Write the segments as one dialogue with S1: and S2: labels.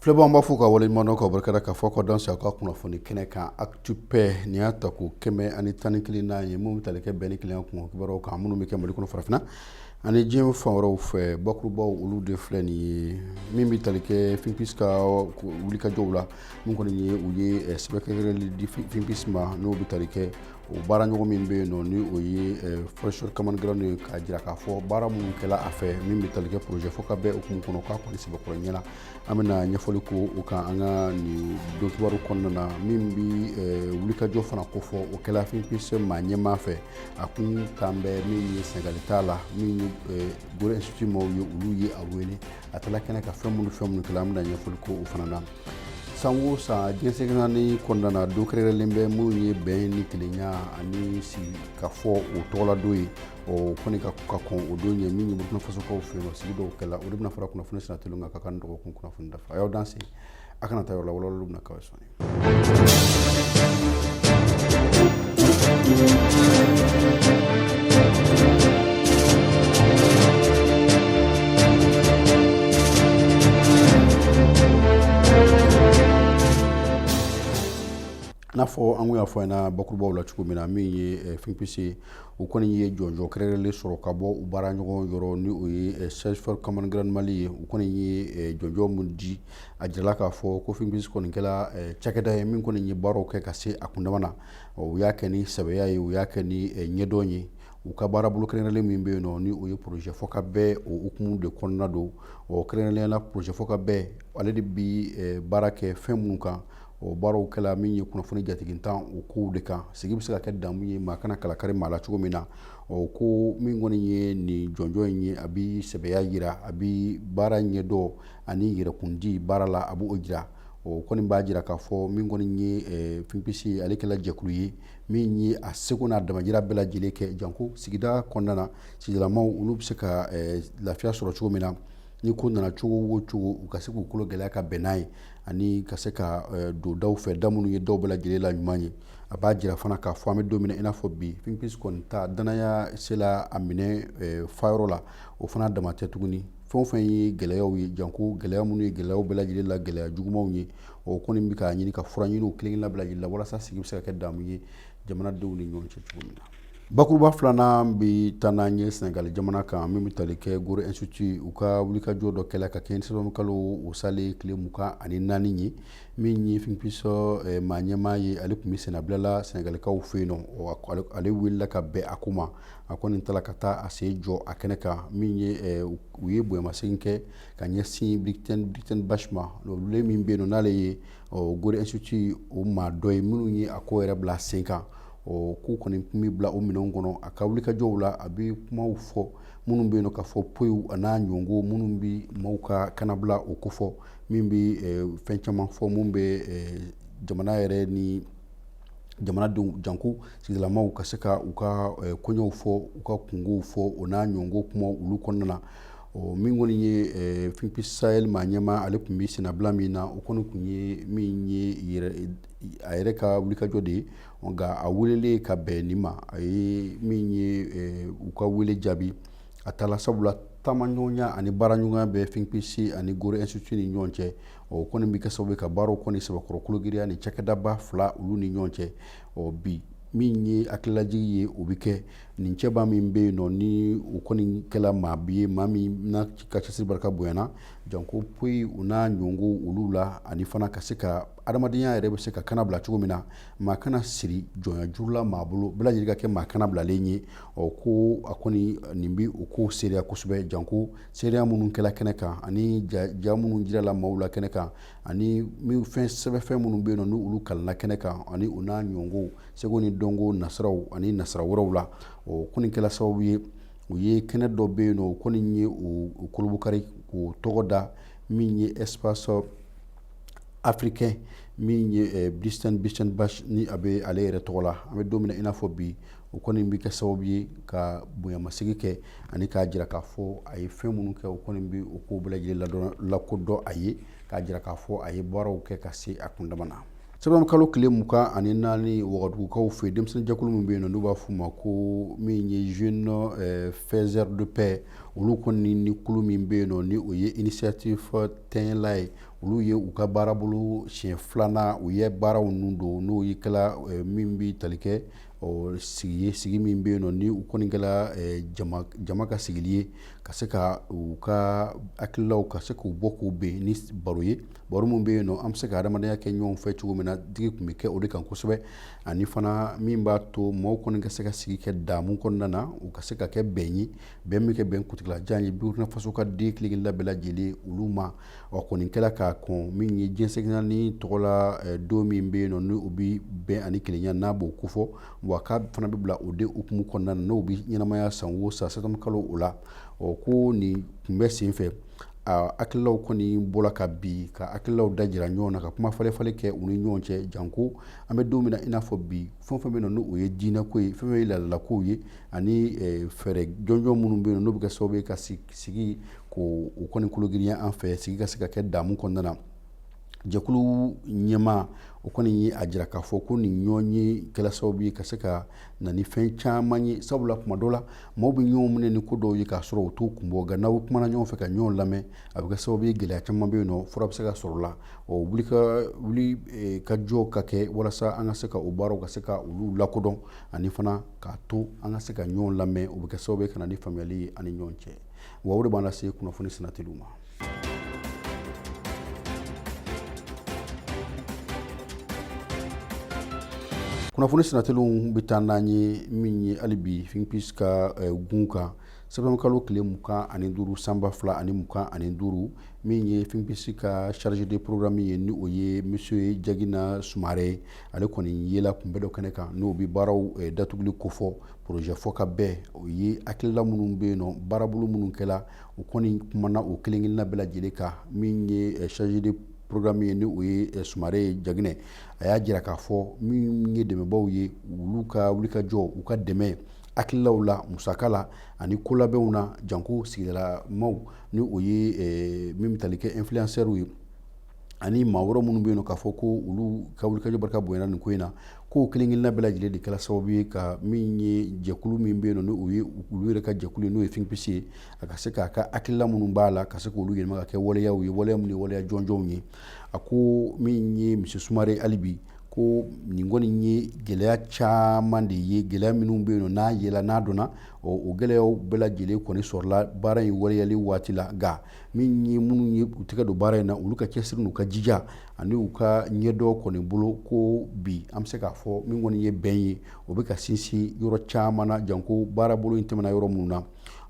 S1: Filɛbaw b'a fɔ ka waleɲumandɔn ka barika ka fɔ ka dɔn sa ka kunnafoni kɛnɛ kan atupɛ nin y'a tako kɛmɛ ani tan ni kelennan ye minnu tali kɛ bɛn ni kelenya kibaruw kan minnu bɛ kɛ mali kɔnɔ farafinna ani diɲɛ fan wɛrɛw fɛ bakurubaw olu de filɛ nin ye min bɛ tali kɛ fpsi ka wulikajɔw la min kɔni ye u ye sɛbɛkɛli di fpsi ma n'o bɛ tali kɛ O baara ɲɔgɔn min bɛ yen nɔ ni o ye eh, search for common ground ye k'a jira k'a fɔ baara minnu kɛla a fɛ min bɛ tali kɛ projet fɔ ka bɛn o hukumu kɔnɔ k'a kɔni sɛbɛkɔrɔ ɲɛ na an bɛna ɲɛfɔli kɛ o kan an ka nin don kibaru kɔnɔna na min bɛ eh, wulikajɔ fana ko fɔ o kɛla finpse maa ɲɛmaa fɛ a kun kan bɛ min ye sɛnɛgali t'a la min ye eh, gorée institut maaw ye olu ye a wele a taara kɛnɛ kan fɛn minnu fɛn minnu kɛla an bɛna ɲɛfɔli kɛ o fana na san o san diɲɛ seleke naani kɔnɔna na don kɛrɛnkɛrɛnlen bɛ min ye bɛn ni kelenya ani sigi ka fɔ o tɔgɔladon ye o kɔni ka ka kɔn o don ɲɛ min ye burkina fasokaw fɛ yen sigi dɔw kɛla o de bɛna fara kunnafoni sira teliw kan ka nin dɔgɔkun kunnafoni dafa a y'aw dan se a kana taa yɔrɔ la walawalaliw bɛna k'aw ye sɔɔni n'a fɔ an y'a fɔ ɲɛna bakurubaw la cogo min na min ye eh, fpc u kɔni ye jɔnjɔn kɛrɛnkɛrɛnlen sɔrɔ ka bɔ u baara ɲɔgɔn yɔrɔ ni o ye eh, search for common ground mali ye u kɔni ye eh, jɔnjɔn min di a jirala k'a fɔ ko fɛn kɔni kɛra eh, cakɛda ye min kɔni ye baaraw kɛ ka se a kundama na u y'a kɛ ni sɛbɛya ye u y'a kɛ ni eh, ɲɛdɔn ye u ka baara bolo kɛrɛnkɛrɛnlen min bɛ yen nɔ ni o ye projet fɔ ka bɛn o hukumu de kɔnɔna don ɔ kɛrɛnkɛrɛnnenya la projet fɔ ka bɛn ale de bi eh, baara kɛ fɛn minnu kan o baaraw kɛla min ye kunnafoni jatigintan o kow de kan sigi bɛ se ka kɛ damu ye maa kana kala kari maa la cogo min na o ko min kɔni ye nin jɔnjɔn in ye a bi sɛbɛya yira a bi baara ɲɛdɔn ani yɛrɛkundi baara la a b'o jira o kɔni b'a jira k'a fɔ min kɔni ye eh, fpsi ale kɛla jɛkulu ye min ye a seko n'a damajira bɛɛ lajɛlen kɛ janko sigida kɔnɔna na sigidalamaw olu bɛ se ka eh, lafiya sɔrɔ cogo min na ni ko nana cogo o cogo u ka se k'u kolo gɛlɛya ka bɛn n'a ye ani ka se ka eh, don daw fɛ da minnu ye daw bɛɛ lajɛlen la ɲuman ye a b'a jira fana k'a fɔ an bɛ don min na i n'a fɔ bi fpsi kɔni ta danaya sela a minɛn fa yɔrɔ la o fana dama tɛ tuguni fɛn fɛn ye gɛlɛyaw ye janko gɛlɛya minnu ye gɛlɛyaw bɛɛ lajɛlen la gɛlɛya jugumanw ye o kɔni bɛ k'a ɲini ka fura ɲini kelen labila la walasa sigi bɛ se ka kɛ damu ye jamanadenw ni ɲɔgɔn cɛ cogo min na bakuruba filanan bɛ taa n'an ye sɛnɛgali jamana kan min bɛ tali kɛ gorée institut u ka wulikajɔ dɔ kɛlen ka kɛ sɛtanburu kalo salen tile mugan ani naani ye min ye fpsi eh, maa ɲɛmaa ye ale tun bisimilala sɛnɛgalikaw fɛ yen nɔ ale wulila ka bɛn a ko ma a ko nin taara ka taa a se jɔ a kɛnɛ kan min ye eh, u ye bonyamasegin kɛ ka ɲɛsin Breytenbach ma olu min bɛ yen nɔ n'ale ye Gorée Institut o maa dɔ ye minnu ye a ko yɛrɛ bila sen kan ɔ k'u kɔni tun bɛ bila o minɛnw kɔnɔ a ka wulikajɔw la a bɛ kumaw fɔ minnu bɛ yen nɔ ka fɔ poyiw a n'a ɲɔgɔn minnu bɛ maaw ka kanabila o kofɔ min bɛ eh, fɛn caman fɔ minnu bɛ eh, jamana yɛrɛ ni jamanadenw janko sigidalamaaw ka se ka u ka eh, koɲɛw fɔ u ka kunkow fɔ o n'a ɲɔgɔn kuma olu kɔnɔna na ɔ min kɔni ye eh, finpi sahel maa ɲɛmaa ale tun bɛ senabila min na o kɔni tun ye min ye a yɛrɛ ka wulikajɔ de ye nka a welelen ka bɛn nin ma a ye min ye eh, u ka wele jaabi a taala sabula taamaɲɔgɔnya ani baaraɲɔgɔnya bɛ finpisi ani Gorée Institut ni ɲɔgɔn cɛ o kɔni bɛ kɛ sababu ka baaraw kɔni sɛbɛkɔrɔ kologiriya ni cakɛdaba fila olu ni ɲɔgɔn cɛ ɔ bi min ye hakilijigi ye o bɛ kɛ nin cɛba min bɛ yen nɔ ni u kɔni kɛla maa bi ye maa min na ka cɛsiri barika bonyana janko poyi o n'a ɲɔgɔn olu la ani fana ka se ka adamadenya yɛrɛ bɛ se ka kana bila cogo min na maa kana siri jɔnya juru la maa bolo bɛɛ lajɛlen ka kɛ maa kana bilalen ye ɔ ko a kɔni nin bɛ o ko seereya kosɛbɛ janko seereya minnu kɛla kɛnɛ kan ani ja minnu jirala maaw la kɛnɛ kan ani fɛn sɛbɛnfɛn minnu bɛ yen nɔ ni olu kalanna kɛnɛ kan ani o n'a ɲɔgɔn seko ni dɔnko nasiraw ani nasira wɛrɛw la o kɔni kɛla sababu ye u ye kɛnɛ dɔ bɛ yen nɔ o kɔni ye o kurubɔnkari k'o tɔgɔ da min ye espace africain min ye eh, Breyten Breytenbach ni a bɛ ale yɛrɛ tɔgɔ la an bɛ don min na i n'a fɔ bi o kɔni bɛ kɛ sababu ye ka bonyamasegin kɛ ani k'a jira k'a fɔ a ye fɛn minnu kɛ o kɔni bɛ o ko bɛɛ lajɛlen ladɔn lakodɔn a ye k'a jira k'a fɔ a ye baaraw kɛ ka se a kundama na sɛtanburu kalo tile mugan ani naani wagadugukaw fɛ denmisɛnnin jɛkulu min bɛ yen nɔ n'u b'a f'u ma ko min ye jeunes eh, faiseurs de paix olu kɔni ni kulu min bɛ yen nɔ ni o ye initiative tɛnyɛla ye olu ye u ka baarabolo siɲɛ filanan u ye baaraw ninnu don n'o y'i kɛla eh, min bɛ tali kɛ ɔ sigi ye sigi min bɛ yen nɔ ni u kɔni kɛla eh, jama, jama ka sigili ye ka se ka u ka hakililaw ka se k'u bɔ k'u bɛn ni baro ye baro min bɛ yen nɔ an bɛ se ka adamadenya kɛ ɲɔgɔn fɛ cogo min na digi tun bɛ kɛ o de kan kosɛbɛ ani fana min b'a to maaw kɔni ka se ka sigi kɛ damu kɔnɔna na u ka se ka kɛ bɛn ye bɛn bɛ kɛ bɛn kuntaalajan ye burkina faso ka den kelen-kelenna bɛɛ lajɛlen olu ma ɔ kɔni kɛra k'a kɔn min ye jɛn seleke naani tɔgɔ la eh, don min bɛ yen nɔ ni o bɛ bɛn ani kelenya n'a b'o kofɔ wa k'a fana bɛ bila o de hukumu kɔnɔna na n'o bɛ ɲɛnamaya san o san septembre kalo o la ɔ ko nin kunbɛn sen fɛ a hakililaw kɔni bɔra ka bi ka hakililaw dajira ɲɔgɔn na ka kuma falen-falen kɛ u ni ɲɔgɔn cɛ janko an bɛ don min na i n'a fɔ bi fɛn fɛn bɛ na n'o ye diinɛko ye fɛn fɛn ye laadalakow ye ani eh, fɛɛrɛ jɔnjɔn minnu bɛ yen n'o bɛ kɛ sababu ye ka sigi sigi ko u kɔni kologirinya an fɛ sigi ka se ka kɛ damu kɔnɔna na jɛkulu ɲɛmaa kɔni ye a jira k'a fɔ ko nin ɲɔgɔnye kɛla sababu ye ka se ka na ni fɛn caman ye sabula tuma dɔ la maaw bɛ ɲɔgɔn minɛ ni ko dɔw ye k'a sɔrɔ u t'u kun bɔ nka n'aw kumana ɲɔgɔn fɛ ka ɲɔgɔn lamɛn a bɛ kɛ sababu ye gɛlɛya caman bɛ yen nɔ fura bɛ se ka sɔrɔ la ɔ wuli ka wuli eh, ka jɔ ka kɛ walasa an ka se ka o baaraw ka se ka olu lakodɔn ani fana k'a to an ka se ka ɲɔgɔn lamɛn o bɛ kɛ sababu ka na ni faamuyali ye an ni ɲɔgɔn cɛ wa o de b'an lase kunnafoni sinatiliw ma kunnafoni sinatiliw bɛ taa n'an ye min ye hali bi Think Peace ka eh, kun kan septembre kalo tile mugan ani duuru san ba fila ani mugan ani duuru min ye Think Peace ka chargé de programme ye ni o ye monsieur jagina sumare ale kɔni yela kunbɛn dɔ kɛnɛ kan n'o bɛ baaraw eh, datuguli kofɔ porozɛ fɔ ka bɛn o ye hakilila minnu bɛ yen nɔ baarabolo minnu kɛla u kɔni kumana o kelen kelenna bɛɛ lajɛlen kan min ye eh, chargé de programme ye ni o ye eh, sumare ye jagina a y'a jira k'a fɔ min ye dɛmɛbaw ye olu ka wulikajɔ u ka dɛmɛ hakililaw la musaka la ani kolabɛnw na janko sigidalamaw ni o ye min bɛ tali kɛ influenceurs ye ani maa wɛrɛ minnu bɛ yen k'a fɔ ko olu ka wulikajɔ barika bonyana nin ko in na k'o kelen-kelenna bɛɛ lajɛlen de kɛra sababu ye ka min ye jɛkulu min bɛ yen nɔ o ye olu yɛrɛ ka jɛkulu ye n'o ye Think Peace ye a ka se k'a ka hakilila minnu b'a la ka se k'olu yɛlɛma ka kɛ waleyaw ye waleya minnu ye waleya jɔnjɔnw ye a ko min ye monsieur Sumare hali bi ko nin kɔni ye gɛlɛya caman de ye gɛlɛya minnu bɛ yen nɔ n'a yela n'a dɔnna o gɛlɛyaw bɛɛ lajɛlen kɔni sɔrɔla baara in waleyali waati la nka min ye minnu ye u tɛgɛ don baara in na olu ka cɛsiri n'u ka jija ani u ka ɲɛdɔn kɔni bolo ko bi an bɛ se k'a fɔ min kɔni ye bɛn ye o bɛ ka sinsin yɔrɔ caman na janko baarabolo in tɛmɛna yɔrɔ minnu na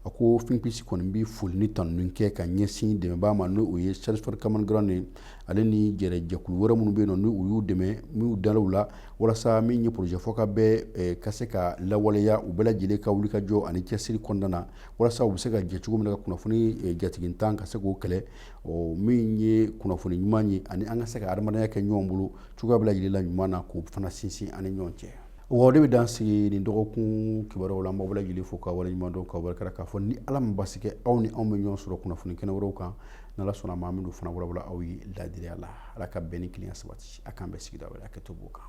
S1: a ko Think Peace kɔni bɛ foli ni tanu kɛ ka ɲɛsin dɛmɛbaa ma n'o ye Search for Common Ground ye ale ni jɛrɛjɛkulu wɛrɛ minnu bɛ yen nɔ ni u y'u dɛmɛ n'u dalaw la walasa min ye porozɛ fɔ ka bɛn ka se ka lawaleya u bɛɛ lajɛlen ka wuli ka jɔ ani cɛsiri kɔnɔna na walasa u bɛ se ka jɛ cogo min na ka kunnafoni eh, jatigintan ka se k'o kɛlɛ o min ye kunnafoni ɲuman ye ani an ka se ka adamadenya kɛ ɲɔgɔn bolo cogoya bɛɛ lajɛlen la ɲuman na k'o fana sinsin an ni ɲɔgɔn cɛ o de bɛ dan sigi nin dɔgɔkun kibaruyaw la an b'aw bɛɛ lajɛlen fo ka wale ɲuman dɔn ka wale kɛra k'a fɔ ni ala ma basi kɛ aw ni anw bɛ ɲɔgɔn sɔrɔ kunnafoni kɛnɛ wɛrɛw kan n'ala sɔnna maa min don fana walawala aw ye laadiriya la ala ka bɛn ni kelenya sabati a k'an bɛɛ sigida wɛrɛ a kɛ to b'o kan